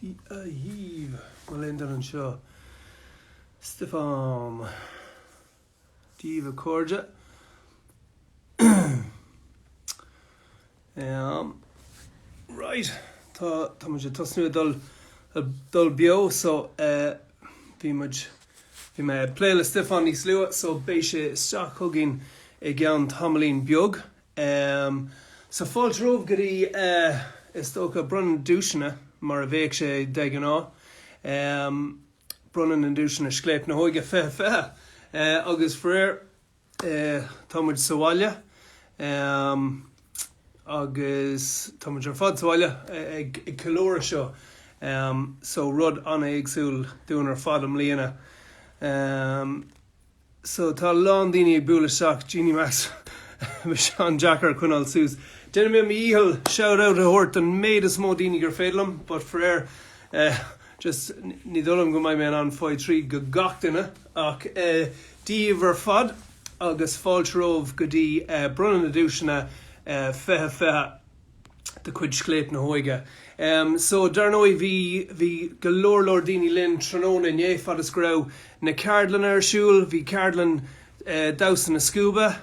Díobh, mo léan don anseo, Stiofán. daoibh a chairde. Ehm. Right. Tá, tá muid ag tosnú ag dul, ag dul beo, so eh, bhí muid, bhí mé ag plé le Stiofán níos luaithe, so beidh sé isteach chugainn i gceann tamaillín beag. Ehm, so fáilte romhaibh go dtí eh, is dócha bronnadh duaiseanna mar a bheadh sé de ghnáth. Ehm, Bronnadh na nduaiseanna Scléip na hÓige 20 20 agus Faraor tá muid sa bhaile agus tá muid ar fad sa bhaile ag ceiliúradh seo so rud an-éagsúil dúinn ar fad i mbliana. so tá a lán daoine ag bualadh isteach Jeannie Mac bheadh sé an-deacair a choinneáil suas. Déanfaidh mé mo dhícheall shout out a thabhairt don méid is mó daoine gur féidir liom but faraor eh just ní dóigh liom go mbeidh mé in ann fáil tríd gach duine ach Dia daoibh ar fad agus fáilte romhaibh go dtí eh bronnadh na nduaiseanna eh 2020 de chuid Scléip na hÓige. So, dar ndóigh, bhí, bhí go leor, leor daoine linn tráthnóna inné, fad is go raibh na ceardlanna ar siúl. Bhí ceardlann damhsa na scuaibe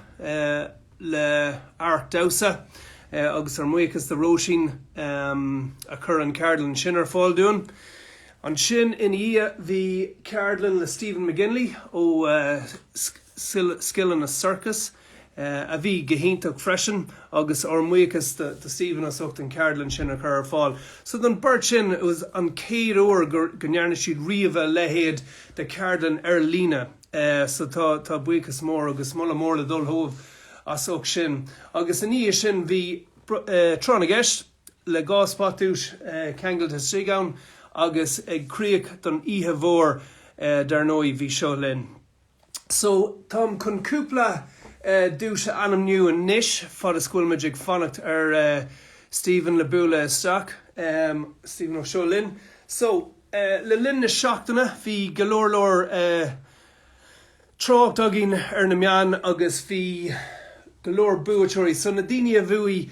le Art Damhsa agus ár mbuíochas do Róisín a chur an cheardlann sin ar fáil dúinn. Ansin ina dhiaidh bhí ceardlann le Stephen McGinley ó Scileanna Circus. a bhí go hiontach freisin agus ár mbuíochas do Stephen as ucht an cheardlann sin a chur ar fáil. So don beirt sin is é an chéad uair go ndearna siad riamh a leithéad de cheardlann ar líne so tá buíochas mór agus moladh mór le dul chugaibh as ucht sin. Agus ina dhiaidh sin bhí Tráth na gCeist le go leor spotduais ceangailte istigh ann agus ag críoch don oíche mhór dar ndóigh bhí Seo Linn. So, táim chun cúpla duais a ainmniú anois, fad is go bhfuil muid ag fanacht ar Stephen le bualadh isteach. Stephen ó Seo Linn. So, le linn na seachtaine, bhí go leor leor trácht againn ar na meáin agus bhí go leor buaiteoirí. So, na daoine a bhuaigh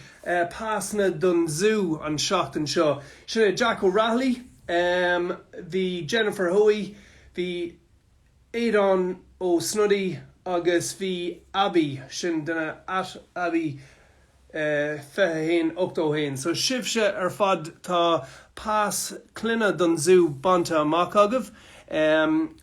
pasanna don zú an tseachtain seo, sin é Jack O'Rahilly, bhí Jennifer Hoey, bhí. Aodán Ó Snodaigh agus bhí Abby sin duine at Abby 21 81 so sibhse ar fad tá pas clainne don zú bainte amach agaibh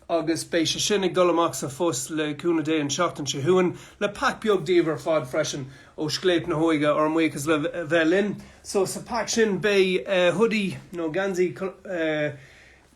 agus beidh sé sin ag dul amach sa phost le cúnamh Dé an tseachtain seo chugainn le pack beag daoibh ar fad freisin ó Scléip na hÓige ár mbuíochas le bheith linn so sa pack sin beidh hoodie nó geansaí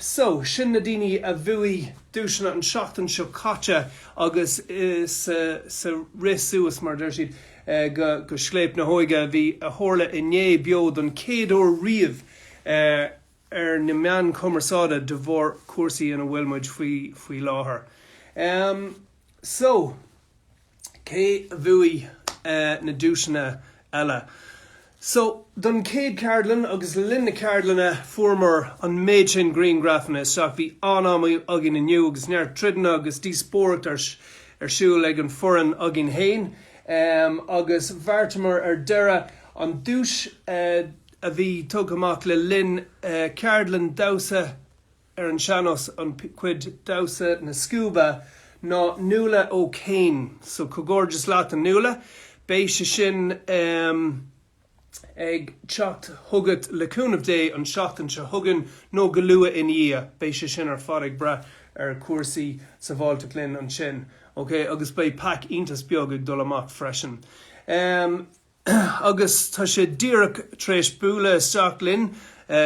So, sin na daoine a bhuaigh duaiseanna an tseachtain seo caite agus sa rith suas, mar a deir siad, go Scléip na hÓige a bhí, a tharla inné beo don chéad uair riamh ar na meáin chumarsáide de bharr cúrsaí ina bhfuil muid faoi láthair. Ahem, so. Cé a bhuaigh na duaiseanna eile? So, don chéad ceardlann agus le linn na ceardlainne fuaireamar an méid sin grianghrafanna isteach. Bhí an-am againn inniu agus neart troideanna agus díospóireacht ar siúl ag an fhoireann againn fhéin agus bheartamar ar deireadh an duais a bhí tugtha amach le linn ceardlann damhsa ar an sean-nós, an chuid damhsa na scuaibe ná Nuala O'Kane. So comhghairdeas leat a Nuala. Beidh sé sin ag teacht chugat le cúnamh Dé an tseachtain seo chugainn nó go luath ina dhiaidh. Beidh sé sin ar fad ag brath ar chúrsaí sábháilteacht linn ansin. Ok agus beidh pack iontas beag ag dul amach freisin. Agus tá sé díreach tar éis bualadh isteach linn.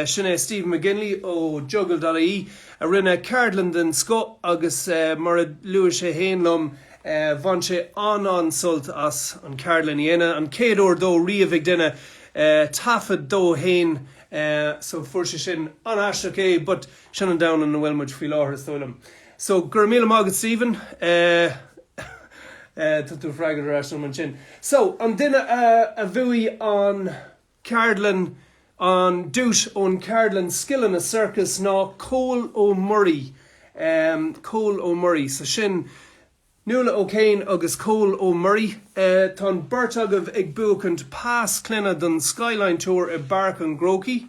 Sin é Stephen McGinley ó Juggle.ie a rinne ceardlann den scoth agus mar a luaigh sé fhéin liom, bhain sé an-an-sult as an ceardlann a dhéanamh. An chéad uair dó riamh ag déanamh taifead dó fhéin so fuair sé sin an-aisteach é but sin an domhan ina bhfuil muid faoi láthair is dóigh liom. So, go raibh míle maith agat Stephen. Tá tú ag freagairt ar ais dom ansin. So, an duine a bhuaigh an ceardlann, an duais ón cheardlann Scileanna Circus ná Cole Ó Muirí. Cole Ó Muirí. So sin Nuala O'Kane agus Cole Ó Muirí. Tá an beirt agaibh ag buachaint pas clainne don Skyline Tour i bPáirc an Chrócaigh.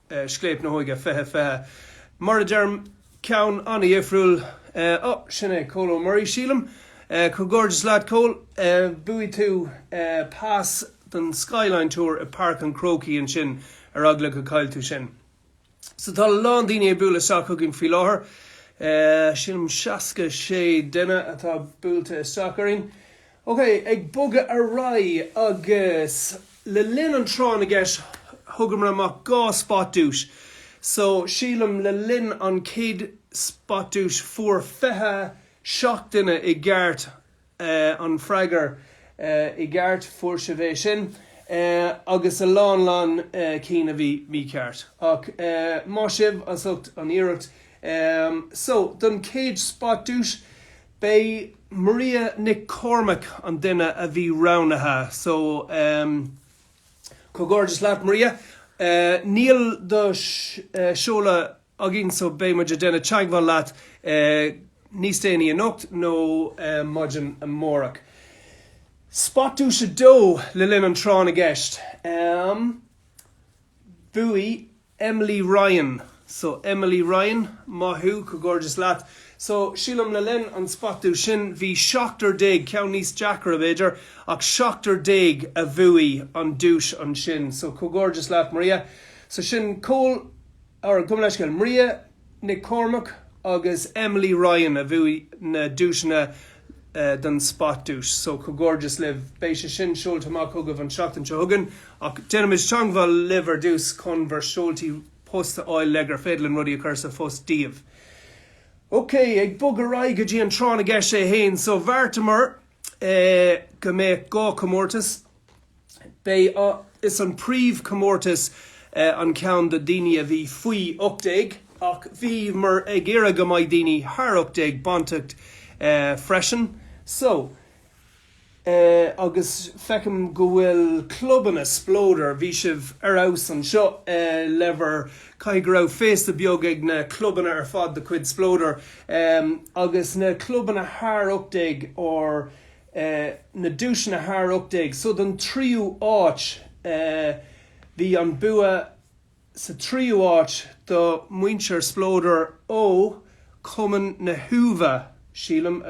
Scléip na hÓige, Fiche Fiche, mar a deirim, ceann an-dhifriúil. Ó, sin é Cole Ó Muirí, sílim. Comhghairdeas leat, Cole. Bhuaigh tú pas don Skyline Tour i bPáirc an Chrócaigh ansin, ar eagla go gcaillfidh tú sin. So tá a lán daoine ag bualadh isteach chugainn faoi láthair. Sílim seasca sé duine atá buailte isteach orainn. Ok, ag bogadh ar aghaidh agus le linn an tráth na gceist thugamar amach dhá spot duais. So, sílim le linn an chéad spot duais fuair 27 duine i gceart an freagair i gceart, fuair sibh é sin, agus a lán lán cinn a bhí mícheart. Ach maith sibh as ucht an iarracht. So, don chéad spot duais, B'é Maria Nic Cormaic an duine a bhí roghnaithe so comhghairdeas leat Maria. Níl do seoladh againn so beidh muid ag déanamh teagmháil leat níos déanaí anocht nó maidin amárach. Spot Duais 2 le linn an Tráth na gCeist. Bhuaigh Emily Ryan So Emily Ryan maith thú, comhghairdeas leat. So sílim le linn an spot duais sin bhí seachtar déag, ceann níos deacra b'fhéidir, ach seachtar déag a bhuaigh an duais ansin. So comhghairdeas leat Maria. So sin comh, or gabh mo leithscéal, Maria Nic Cormaic agus Emily Ryan a bhuaigh na duaiseanna don Spot Duais so comhghairdeas libh. Beidh sé sin seolta amach chugaibh an seachtain seo chugainn ach déanfaimid teagmháil libh ar dtús chun bhur seoltaí post a fháil le gur féidir linn rudaí a chur sa phost daoibh. Ok, ag bog ar aghaidh go dtí an Tráth na gCeist é fhéin so bheartamar go mbeadh dhá comórtas. B'é is an príomh comórtas an ceann do daoine a bhí faoi 18 ach bhíomar ag iarraidh go mbeidh daoine thar 18 bainteacht freisin. So agus feicim go bhfuil clubanna Spleodar, bhí sibh ar fheabhas anseo le bhur caithfidh go raibh féasta beag ag na clubanna ar fad de chuid Spleodar agus na clubanna thar 18 or na duaiseanna thar 18. So don tríú áit bhí an bua sa tríú áit do muintir Spleodar ó Cumann na hUaimhe, sílim,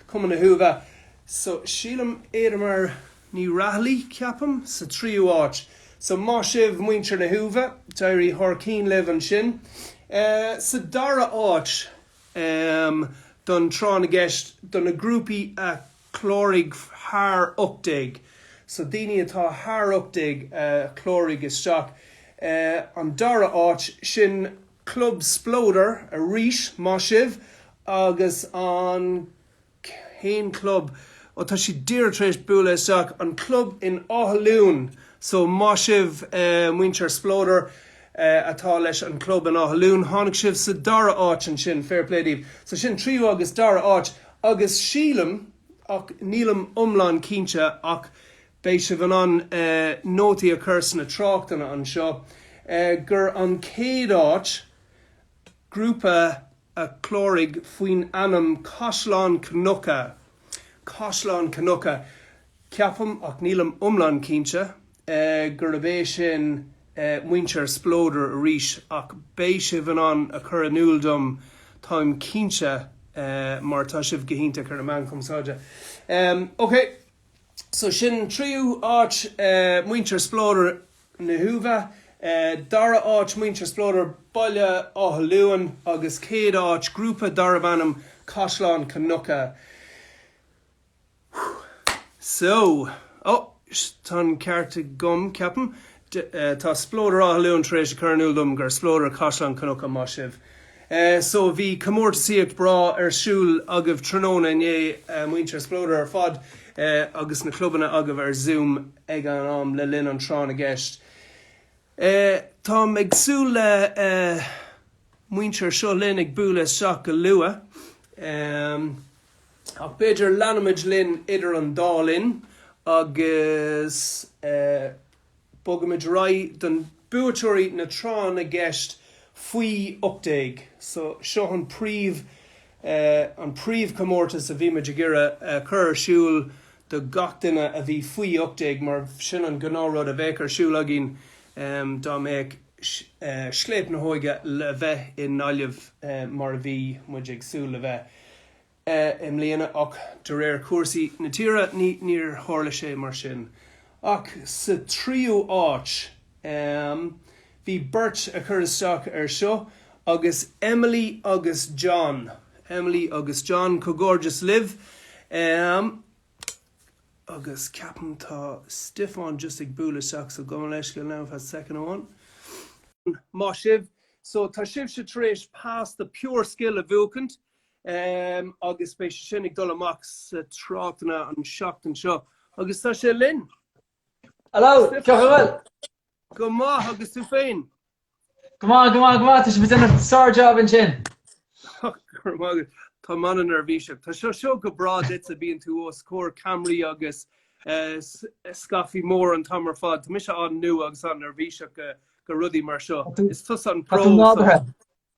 Cumann na hUaimhe. So sílim Éadaoin Ní Raghallaigh, ceapaim, sa tríú áit. So maith sibh muintir na hUaimhe, d'éirigh thar cinn libh ansin. Sa dara áit Am don Tráth na gCeist do na grúpaí a chláraigh thar 18. So daoine atá thar 18 a chláraigh isteach. An dara áit, sin Club Spleodar arís, maith sibh! Agus an Aon club atá siad díreach tar éis bualadh isteach, an club in Áth Luain. So maith sibh muintir Spleodar atá leis an gclub in Áth Luain. Tháinig sibh sa dara áit ansin, fair play daoibh. So sin tríú agus dara áit agus sílim, ach nílim iomlán cinnte, ach beidh sibh in ann nótaí a chur sna tráchtanna anseo, gur an chéad áit, grúpa. a chláraigh faoin ainm Caisleán Cnucha, Caisleán Cnucha, ceapaim, ach nílim iomlán cinnte, gurbh é sin muintir Spleodar arís, ach beidh sibh in ann a chur in iúl dom, táim cinnte, mar tá sibh go hiontach ar na meáin chumarsáide. OK, so sin tríú áit muintir Spleodar na hUaimhe, dara áit muintir Spleodar Baile Átha Luain agus céad áit grúpa darbh ainm Caisleán Cnucha. So, ó, tá an ceart agam, ceapaim. Tá Spleodar Átha Luain tar éis a chur in iúl dom gur Spleodar Caisleán Cnucha, maith sibh. So bhí comórtasaíocht bhreá ar siúl agaibh tráthnóna inné, muintir Spleodar ar fad agus na clubanna agaibh ar Zoom ag an am le linn an Tráth na gCeist. Tá mé ag súil le muintir Seo Linn ag bualadh isteach go luath. Ach b'fhéidir leanfaimid linn idir an dá linn agus. Bogaimid ar aghaidh do na buaiteoirí Tráth na gCeist faoi 18 so seo an príomh an príomhchomórtas a bhí muid ag iarraidh a chur ar siúl do gach duine a bhí faoi 18 mar b'shin an gnáthrud a bheadh ar siúl againn dá mbeadh Scléip na hÓige le bheith i nGaillimh mar a bhí muid ag súil le bheith. i mbliana ach de réir cúrsaí na tíre níor tharla sé mar sin ach sa tríú áit. Bhí beirt a chuir isteach ar seo agus Emily agus John. Emily agus John comhghairdeas libh agus ceapaim tá Stiofán just ag bualadh isteach so gabh mo leithscéal ar feadh soicind amháin. Maith sibh. So tá sibhse tar éis pass do Pure Skill a bhuachaint. agus beidh sé sin ag dul amach sa tráchtanna an seachtain seo agus tá sé linn. Hello! Cén chaoi a bhfuil? Go maith agus tú féin? Go maith, go maith, go maith. Tá sibh ag déanamh sár-jab ansin. Go raibh maith agat. Tá mé an-neirbhíseach. Tá sé seo go breá duitse, bíonn tú os comhair ceamaraí agus scaifte mór an t-am ar fad. Tá mise an-nua agus an-neirbhíseach go rudaí mar seo. Is tusa an pro. Tá tú nádúrtha.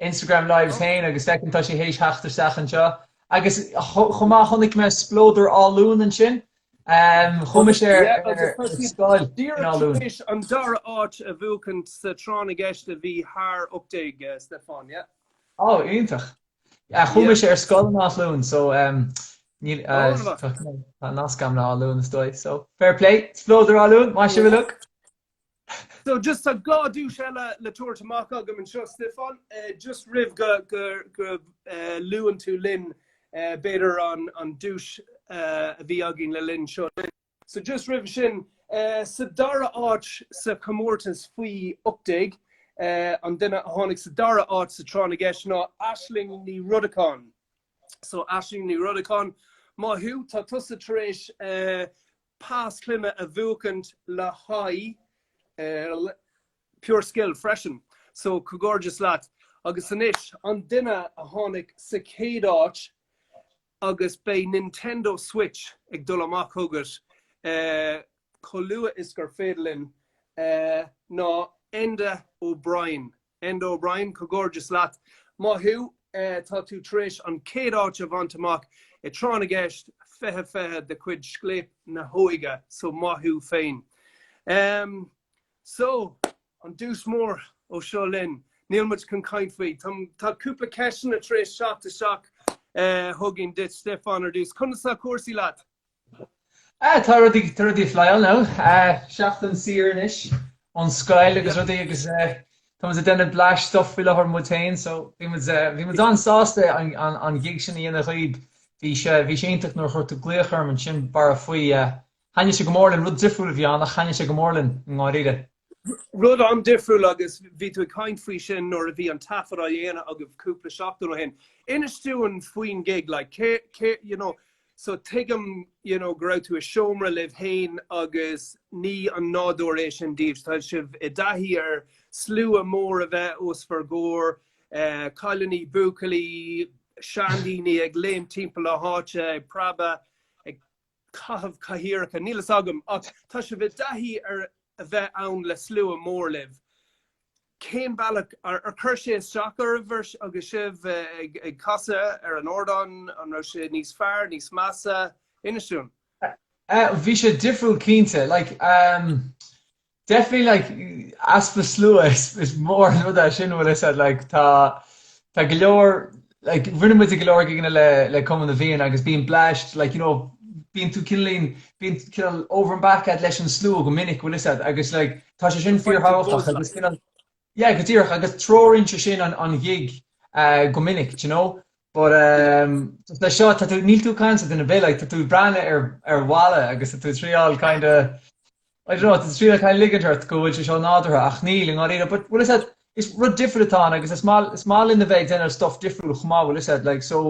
Instagram lives Oh. fhéin agus feicim tá sé théis theacht isteach anseo. Agus chomh maith chonaic mé Spleodar Áth Luain ansin. Ehm, chuaigh mise ar scoil in Áth Luain. Yeah, agus tá siad díreach tar éis an dara áit a bhuachaint sa Tráth na gCeist a bhí thar optéig uh, Stiofán, yeah. Ó, iontach. Yeah, Yeah. chuaigh mise ar scoil in Áth Luain, so ehm, níl Ó, uh, na bhfac. tá tá nasc a'm le Áth Luain is dóigh. So fair play, Spleodar Áth Luain, maith sibh Yeah. look. So just tá dhá duais eile le tabhairt amach agam anseo, Stiofán. Just roimh go go luann tú linn b'fhéidir an duais a bhí againn le linn Seo Linn. So just roimhe sin, sa dara áit sa chomórtas faoi 18, an duine a tháinig sa dara áit sa Tráth na gCeist ná Aisling Ní Rodacháin. So Aisling Ní Rodacháin, maith thú, tá tusa tar éis Pas clainne a bhuachaint le haghaidh Pure Skill freisin so comhghairdeas leat. Agus anois an duine a tháinig sa chéad áit agus beidh Nintendo Switch ag dul amach chugat chomh luath is gur féidir linn ná Enda O'Brien. Enda O'Brien, Comhghairdeas leat maith thú. Tá tú tar éis an chéad áit a bhaint amach i Tráth na gCeist 20 20 de chuid Scléip na hÓige so maith thú féin. Em. So, an duais mór ó Seo Linn. Níl muid chun caint faoi. Tá tá cúpla ceisteanna tar éis teacht isteach chugainn duit Stiofán ar dtús. Conas tá cúrsaí leat? Ah, tá rudaí, tá rudaí ag flyáil ann. Eh, seachtain saor anois ón scoil agus rudaí agus eh, tá muid ag déanamh blais stuff faoi láthair muid féin, so bhí muid eh, bhí muid an-sásta an, an, an gig sin a dhéanamh dhaoib. Bhí sé bhí sé iontach nuair a chuir tú glaoch orm ansin Barra faoi eh, thaitnigh sé go mór linn, rud difriúil a bhí ann ach thaitnigh sé go mór linn i ndáiríre. Rud an-difriúil agus bhí tú ag caint faoi sin nuair a bhí an taifead á dhéanamh agaibh cúpla seachtain ó shin. Inis dúinn faoin gig, like, cé, cé, you know, So tuigim you know go raibh tú i seomra libh fhéin agus ní an nádúr é sin daoibh, tá sibh i dtaithí ar slua mór a bheith os bhur gcomhair, cailiní, buachaillí, seandaoine ag léim timpeall na háite ag preabadh, ag caitheamh cathaoireacha, níl fhios agam ach tá sibh i dtaithí ar a bheith ann le slua mór libh. Cén bealach ar chuir sé isteach oraibh agus sibh ag casadh ar an ardán? An raibh sé níos fearr, níos measa? Inis dúinn. Bhí sé difriúil cinnte. Definitely like easpa slua is mór an rud é sin bhfuil fhios a'd like tá go leor like rinne muid go leor gigeanna le le Cumann na bhFiann agus bíonn blast like you know bíonn tú cineál lean bíonn cineál over and back at leis an slua go minic bhfuil 'fhios a'd agus like tá sé sin Fucking fíorthábhachtach buzz agus like. cineál yeah go díreach agus treoraíonn sé sin an an ghig eh, go minic do you know but um just leis seo tá tú níl tú ag caint le duine ar bith like tá tú ag breathnú ar ar bhalla agus tá tú ag triáil kind of I don't know, ag triail a ligint ort go bhfuil sé seo nádúrtha ach níl i ndáiríre but bhfuil 'fhios a'd is rud difriúil atá ann agus is maith is maith linn a bheith ag déanamh stuff difriúil chomh maith bhfuil 'fhios a'd like so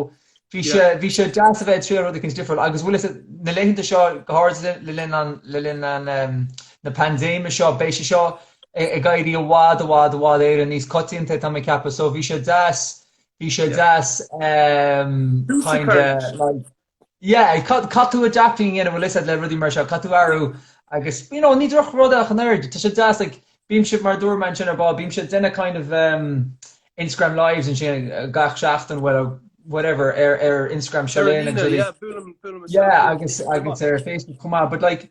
bhí sé bhí sé deas a bheith ag triail rud eicint difriúil agus bhfuil 'fhios a'd na laethanta seo go háirithe le linn an le linn an ehm na paindéime seo beidh sé seo ag éirí i bhfad i bhfad i bhfad Éireann níos coitianta tá mé ag ceapadh so bhí sé deas bhí sé deas ehm kind of like Yeah, caith, caithfidh tú do chleachtadh a dhéanamh bhfuil 'fhios a'd le rudaí mar seo, caithfidh tú athrú agus you know, ní drochrud é ach an oiread, tá sé deas like, bím-se mar a dúirt mé ansin ar ball, bím-se ag déanamh kind of um, Instagram lives ansin gach seachtain well whatever ar ar Instagram Seo Linn ar líne, agus yeah, buailim, buailim isteach yeah, agus agus ar Facebook chomh maith but like,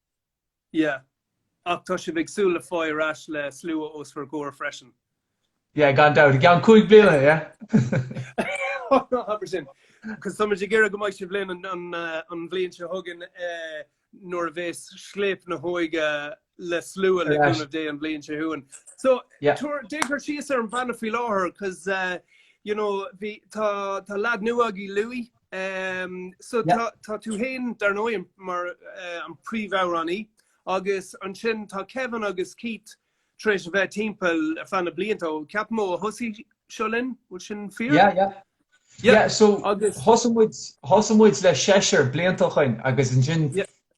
Yeah. Ach tá sibh ag súil le fáil ar ais le slua os bhur gcomhair freisin. Yeah, gan dabht. I gceann cúig bliana, yeah. Ná habair sin. Cos táimid ag iarraidh go mbeidh sibh linn an bhliain seo chugainn nuair a bheas Scléip na hÓige le slua le cúnamh Dé an bhliain seo chugainn. So, tabhair, déan cur síos ar an mbanna faoi láthair cos, you know, bhí, tá, tá leaid nua agaí, Louis. So tá tú féin, dar ndóigh, mar an príomhamhránaí agus ansin tá Kevin agus Keith tar éis a bheith timpeall ar feadh na blianta ó, ceapaim, ó a thosaigh Seo Linn, bhfuil sin fíor? Yeah, yeah. Yeah, so thosaigh muid, thosaigh muid le seisear blianta ó shoin agus ansin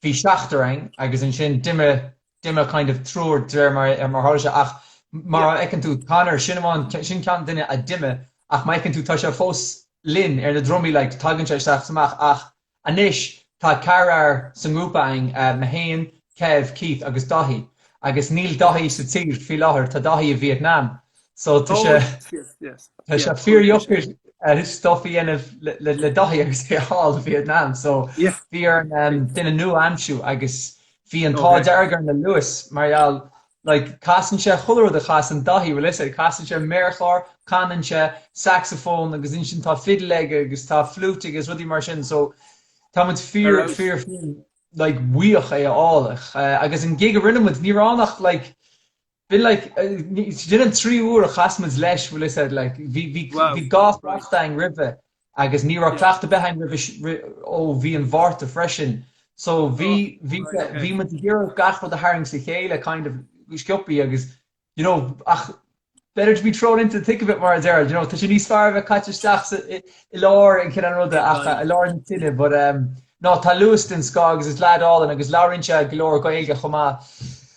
bhí seachtar ann agus ansin d'imigh D'imigh kind of triúr d'réir mar a tharla sé ach mar a fheiceann tú Conor sin amháin sin ceann duine a d'imigh ach mar a fheiceann tú tá sé fós linn ar na drumaí like tagann sé isteach is amach ach anois tá ceathrar sa ngrúpa againn mé féin, Kev, Keith agus Dáithí agus níl Dáithí sa tír faoi láthair tá Dáithí i Vietnam So tá sé tá sé fíordheacair stuff a dhéanamh le Dáithí agus é thall i Vietnam. So bhí orainn duine nua a aimsiú agus bhí an t-ádh dearg orainn le Louis mar gheall like casann sé chuile rud a chasann Dáithí bhfuil fhios a'd casann sé méarchlár, casann sé saxophone agus ansin tá fidil aige agus tá flute aige agus rudaí mar sin so tá muid fíor fíor fíor like buíoch é a fháil agus an gig a rinne muid ní raibh ann ach like Bhí like sin an trí uair a chas muid leis bhfuil 'fhios a'd like bhí bhí Wow. bhí cleachtadh Right. ann roimhe agus ní raibh Yeah. cleachtadh ar bith ann roimhe si- ri- ó bhí an Mhárta freisin so bhí Oh, bhí right, okay. bhí muid ag iarraidh gach rud a tharraingt le chéile kind of go sciopthaí agus you know ach better to be thrown into the thick of it mar a deir you know tá sé níos fearr a bheith caite isteach sa- i i lár an kind of ruda Big ach time. i lár na tine but um no tá Lewis den scoth agus is leaid álainn agus labhraíonn sé go leor Gaeilge chomh maith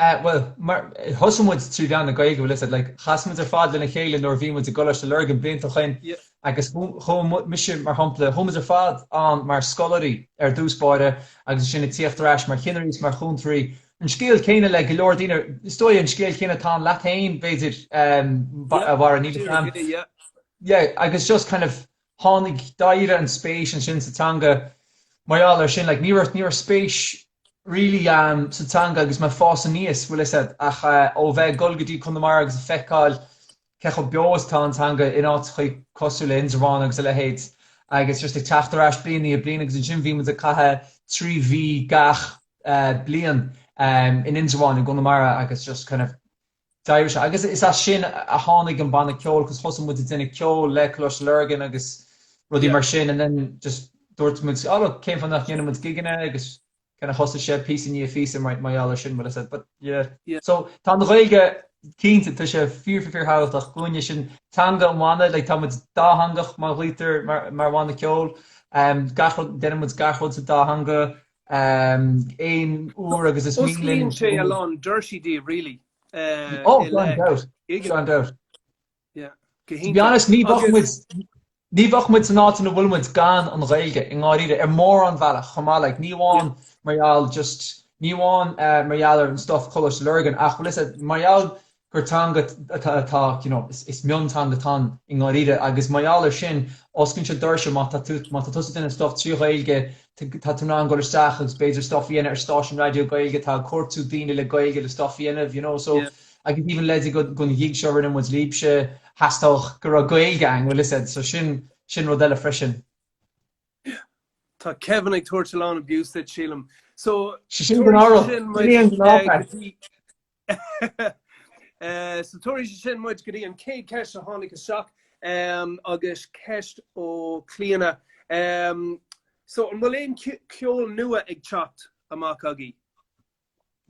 Eh, bhuel, mar, thosaigh muid trí mheán na Gaeilge, bhfuil 'fhios a'd, like, chas muid ar fad lena chéile nuair a bhí muid i gColáiste Lurgan blianta ó shin Yeah. agus chu, chuaigh mise, mar shampla, chuaigh muid ar fad ann mar scoláirí ar dtús báire agus ansin ag tíocht ar ais mar chinnirí is mar chúntoirí. An scéal céanna le go leor daoine, is dóigh, an scéal céanna atá ann leat féin, b'fhéidir, em, ba- Yeah. a Mhara, níl a fhios Deireadh a'm. ré, yeah. Yeah, agus just kind of, Tháinig, d'éirigh an spéis ansin sa teanga mar gheall ar sin, like ní raibh, ní raibh spéis really sa teanga agus mé ag fás aníos, bhfuil 'fhios a'd, ach ó bheith ag dul go dtí Conamara agus a feiceáil cé chomh beo is atá an teanga in áiteachaí cosúil le Indreabhán agus a leithéid agus just ag teacht ar ais bliain i ndiaidh bliain agus ansin bhí muid ag caitheamh trí mhí gach bliain in Indreabhán i gConamara agus just kind of D'éirigh sé agus is as sin a tháinig an banna ceoil cos thosaigh muid ag déanamh ceoil le Coláiste Lurgan agus rudaí mar sin and then just dúirt muid oh look cén fáth nach ndéanann muid gigeanna agus kind of thosaigh sé píosa i ndiaidh phíosa mar gheall ar sin but I said but yeah so tá an Ghaeilge cinnte tá sé fíor fíor thábhachtach dhúinne sin teanga an bhanna like tá muid dátheangach bhfuil 'fhios a'd mar bhanna ceoil gach rud déanann muid gach rud sa dá theanga aon uair agus is mian linn. Osclaíonn sé a lán doirsí daoibh really. Oh, without doubt. Without doubt. Yeah. To be honest, ní bheadh muid, ní bheadh muid san áit ina bhfuil muid gan an Ghaeilge i ndáiríre ar mórán bhealach chomh maith, like, ní amháin mar gheall just, ní amháin mar gheall ar an stuff Coláiste Lurgan ach, well, is mar gheall gur teanga atá, you know, is mionteanga atá ann i ndáiríre agus mar gheall air sin osclaíonn sé doirse má tá tú, má tá tusa ag déanamh stuff trí Ghaeilge, tá tú in ann dul isteach agus b'fhéidir stuff a dhéanamh ar stáisiún raidió Gaeilge atá ag cuartú daoine le Gaeilge le stuff a dhéanamh, you know, so like even le go dtí an ghig seo a rinne muid libhse theastaigh go raibh Gaeilge ann, well is ea so sin, sin rud eile freisin. Yeah. Tá Kevin ag tabhairt a lán abuse duit sílim. So, Sé sin go tabharfadh, sin an gnáth, So tabharfaidh sé sin muid go dtí an chéad cheist a tháinig isteach agus ceist ó Clíona. So an bhfuil aon ceol nua ag teacht amach agaí?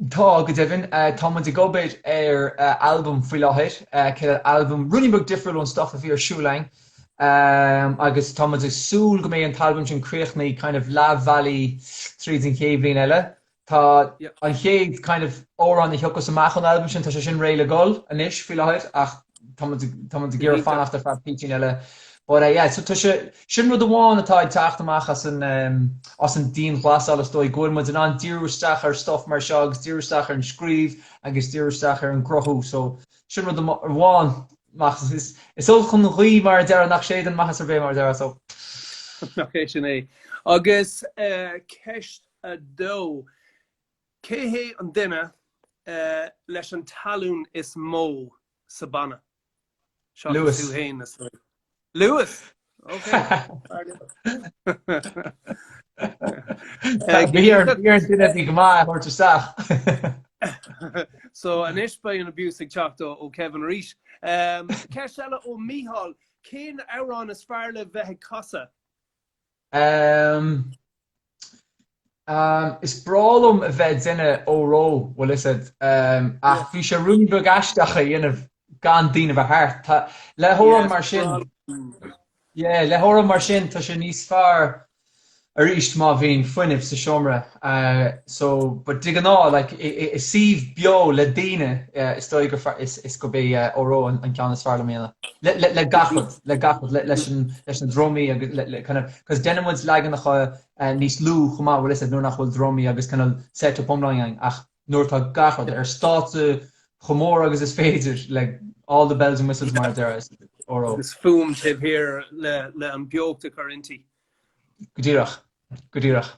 Tá, go deimhin. Tá muid ag obair ar albam faoi láthair, céad albam rudaí beag difriúil ón stuff a bhí ar siúl againn agus tá muid ag súil go mbeidh an t-albam sin críochnaithe kind of leath bealaigh tríd an chéad bhliain eile. Tá an chéad kind of amhrán a thiocfas amach ón albam sin, tá sé sin réidh le dhul anois faoi láthair ach tá muid tá muid ag iarraidh fanacht ar feadh bitín eile. But eh yeah, so tá sé, sin rud amháin atá ag teacht amach as an ehm as an dianghlasáil is dóigh go bhfuil muid in ann díriú isteach ar stuff mar seo agus díriú isteach ar an scríobh agus díriú isteach ar an gcruthú so sin rud amháin nach is is olc an ghaoth mar a déarfá nach séideann maitheas ar bith mar a déarfá so. Nach é sin é. Agus eh ceist 2. Cé hé an duine leis an tallann is mó sa banna? Seachas tú féin, a Sly. Louis! Ok, fear liom. Bhí ar an duine a bhí go maith a thabhairt isteach. So, anois beidh an abuse ag teacht ó Kevin arís. Ceist eile ó Micheál, Cén amhrán is fearr le bheith ag casadh? Umm umm is breá liom a bheith ag déanamh Óró, bhfuil a fhios agat, umm ach bhí sé ruainne beag aisteach a dhéanamh gan daoine bheith thart. Tá, le hamhrán mar sin, yeah, le hamhrán mar sin tá sé níos fearr aríst má bhíonn fuinneamh sa seomra. so but de ghnáth like i suíomh beo le daoine is dóigh gur fearr is gurb é Óró an ceann is fearr liom a dhéanamh le gach rud, le gach rud, leis na drumaí agus le kind of 'cause déanann muid leaganacha níos lú chomh maith bhfuil a fhios agat nuair nach bhfuil drumaí agus kind of set up iomlán againn ach nuair atá gach rud ar stáitse chomh mór agus is féidir like all the bells and whistles mar a déarfá is Óró. Agus fuaim taobh thiar le an beocht a chur inti. Go díreach. Go díreach.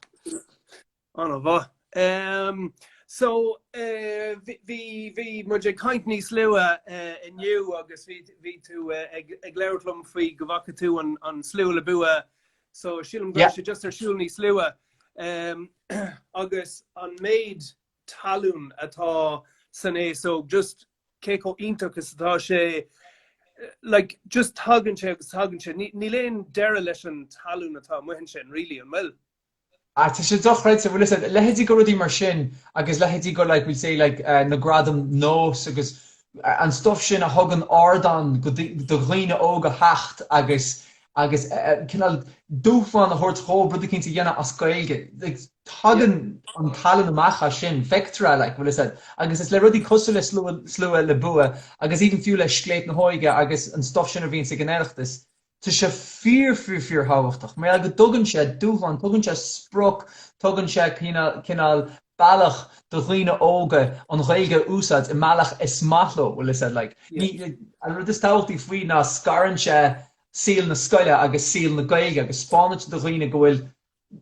Ana mhaith. Em, so, eh, bhí- bhí- bhí muid ag caint níos luaithe, eh, inniu agus bhí- bhí tú, eh, ag- ag labhairt liom faoi go bhfaca tú an- an slua le bua. So, sílim go raibh Yeah. sé just ar siúl níos luaithe. Em, agus an méid tallann atá san aos óg, just cé chomh iontach is atá sé, like, just tagann sé agus tagann sé, ní, níl aon deireadh leis an tallann atá amuigh ansin, really, an bhfuil? Ah, tá sé dochreidte, bhuel, is é, leithéidí de rudaí mar sin, agus leithéidí de, like, we'll say, like, eh, na Gradaim NÓS agus an stuff sin a thugann ardán go, do dhaoine óga theacht agus, agus cineál dúshlán a thabhairt dhóibh rud éicint a dhéanamh as Gaeilge. Like, tagann an tallann amach as sin, feictear é, like, bhfuil a fhios agat. Agus is le rudaí cosúil le slua, slua le bua, agus even fiú le Scléip na hÓige agus an stuff sin a bhíonns ag an Oireachtas, tá sé fíor, fíor, fíor thábhachtach. Mar gheall go dtugann sé dúshlán, tugann sé sprioc, tugann sé cineál, cineál, bealach do dhaoine óga an Ghaeilge a úsáid i mbealach is maith leo, bhfuil a fhios agat, like, ní, an rud is tábhachtaí faoi ná scarann sé saol na scoile agus saol na Gaeilge agus spáineann sé do dhaoine go bhfuil,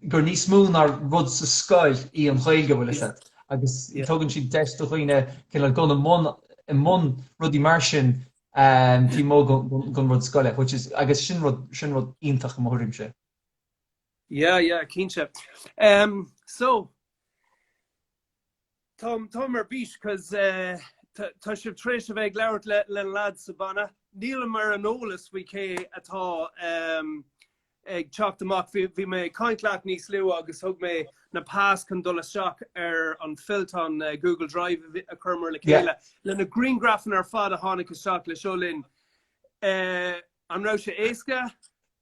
gur níos mó ná rud sa scoil í an Ghaeilge, bhfuil a fhios agat, agus tugann siad deis do dhaoine cineál dhul i mbun, i mbun rudaí mar sin taobh amuigh den rud scoile, which is, agus sin rud, sin rud iontach i mo thuairimse. Yeah yeah cinnte um so tá táim ar bís 'cause eh, tá tá sibh tar éis a bheith ag labhairt le leis na lads sa banna nílimse ar an eolas faoi cé atá um ag teacht amach bhí bhí mé ag caint leat níos luaithe agus thug mé an pas chun dul isteach ar an fillteán eh, Google Drive a bhí- a chuireamar le Yeah. chéile le na griangrafanna ar fad a tháinig isteach le seoladh linn Eh, an raibh sé éasca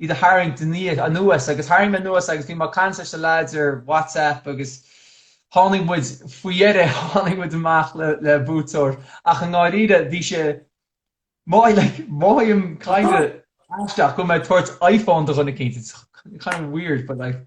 iad a tharraingt anuas agus tharraing mé anuas agus bhí mé ag caint leis na lads ar WhatsApp agus tháinig muid, faoi dheireadh, tháinig muid amach le buaiteoir ach i ndáiríre bhí sé maith, like, mothaím kind of aisteach go mbeidh mé ag tabhairt iPhone do dhuine eicínt, it's kind of weird but like,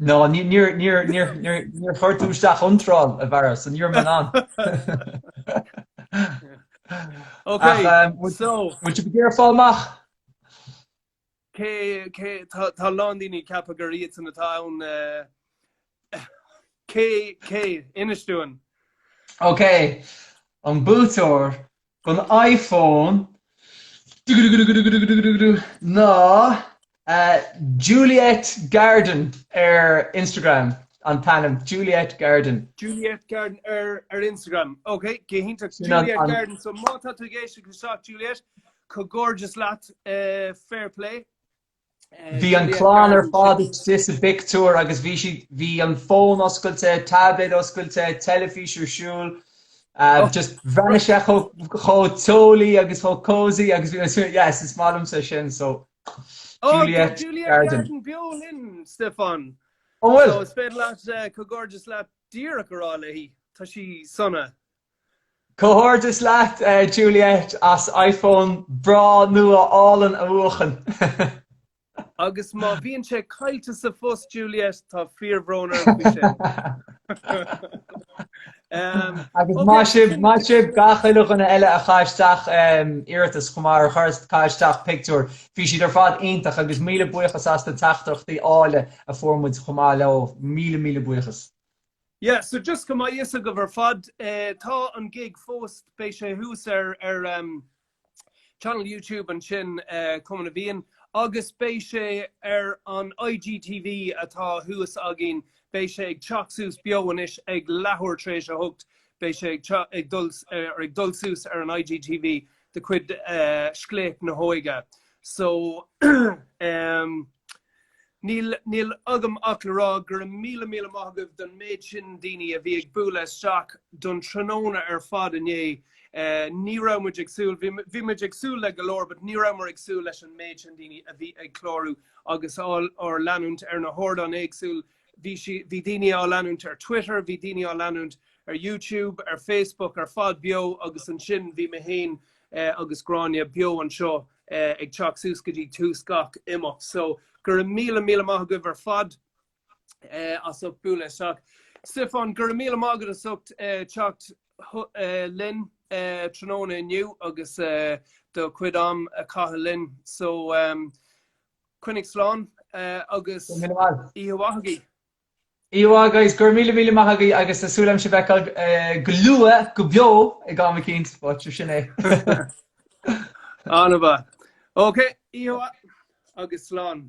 No, níor chuir tú isteach iontráil, a mhac, so níor bhain. Ok, so. Bhfuil tú ag iarraidh fáil amach? Sea, tá a lán daoine ag ceapadh gur iadsan atá ann. Cé, cé, Inis dúinn. Ok, an buaiteoir don iPhone ná Juliette Garden ar Instagram an t-ainm, Juliette Garden. Juliette Garden ar Instagram. Ok, go hiontach. Juliette Garden. So má tá tú ag éisteacht isteach Juliette, comhghairdeas leat. Fair play. Bhí an clann ar fad istigh sa bpictiúr agus bhí siad, bhí an fón oscailte, taibléad oscailte, teilifís ar siúl, just bhreathnaigh sé chomh teolaí agus chomh cosy agus bhí mé, yes, is maith liomsa sin, so Juliette Garden. Juliette Garden beo linn, Stiofán. An bhfuil? So is féidir leat comhghairdeas leat díreach a rá léi, tá sí sona. Comhghairdeas leat Juliette as iPhone breá nua álainn a bhuachan. Agus má bhíonn sé caillte sa phost, Juliette, tá fíorbhrón orm faoi sin. Agus maith sibh, maith sibh gach uile dhuine eile a chaith isteach iarratas chomh maith, a chuir, a chaith isteach pictiúr. Bhí siad ar fad iontach agus míle buíochas as na teachtaireachtaí áille a fuair muid chomh maith leo. Míle míle buíochas. Yeah, so just go mbeadh a fhios agaibh ar fad, tá an gig fós, beidh sé thuas ar ar em channel YouTube ansin eh Cumann na bhFiann agus beidh sé ar an IGTV atá thuas againn, beidh sé ag teacht suas beo anois ag leathuair tar éis a hocht, beidh sé ag teach ag dul ar ag dul suas ar an IGTV de chuid eh Scléip na hÓige. So, em. Níl agam ach le rá go raibh míle míle maith agaibh don méid sin daoine a bhí ag bualadh isteach don tráthnóna ar fad inné. Ní raibh muid ag súil, bhí muid ag súil le go leor, but ní rabhamar ag súil leis an méid sin daoine a bhí ag clárú agus ár leanúint ar na hardáin éagsúil. Bhí daoine á leanúint ar Twitter, bhí daoine á leanúint ar YouTube, ar Facebook ar fad beo agus ansin bhí mé féin agus Gráinne beo anseo. ag teacht suas go dtí tús gach imeacht so go raibh míle míle maith agaibh ar fad as ucht bualadh isteach. Stiofán go raibh míle maith agat as ucht teacht linn tráthnóna inniu agus do chuid am a chaitheamh linn so coinnigh slán agus oíche mhaith agaibh. Oíche mhaith, guys, Go raibh míle míle maith agaibh agus tá súil agam sibh a fheiceáil go luath go beo ag am eicínt, but seo sin é. An-mhaith. OK, oíche mhaith agus slán.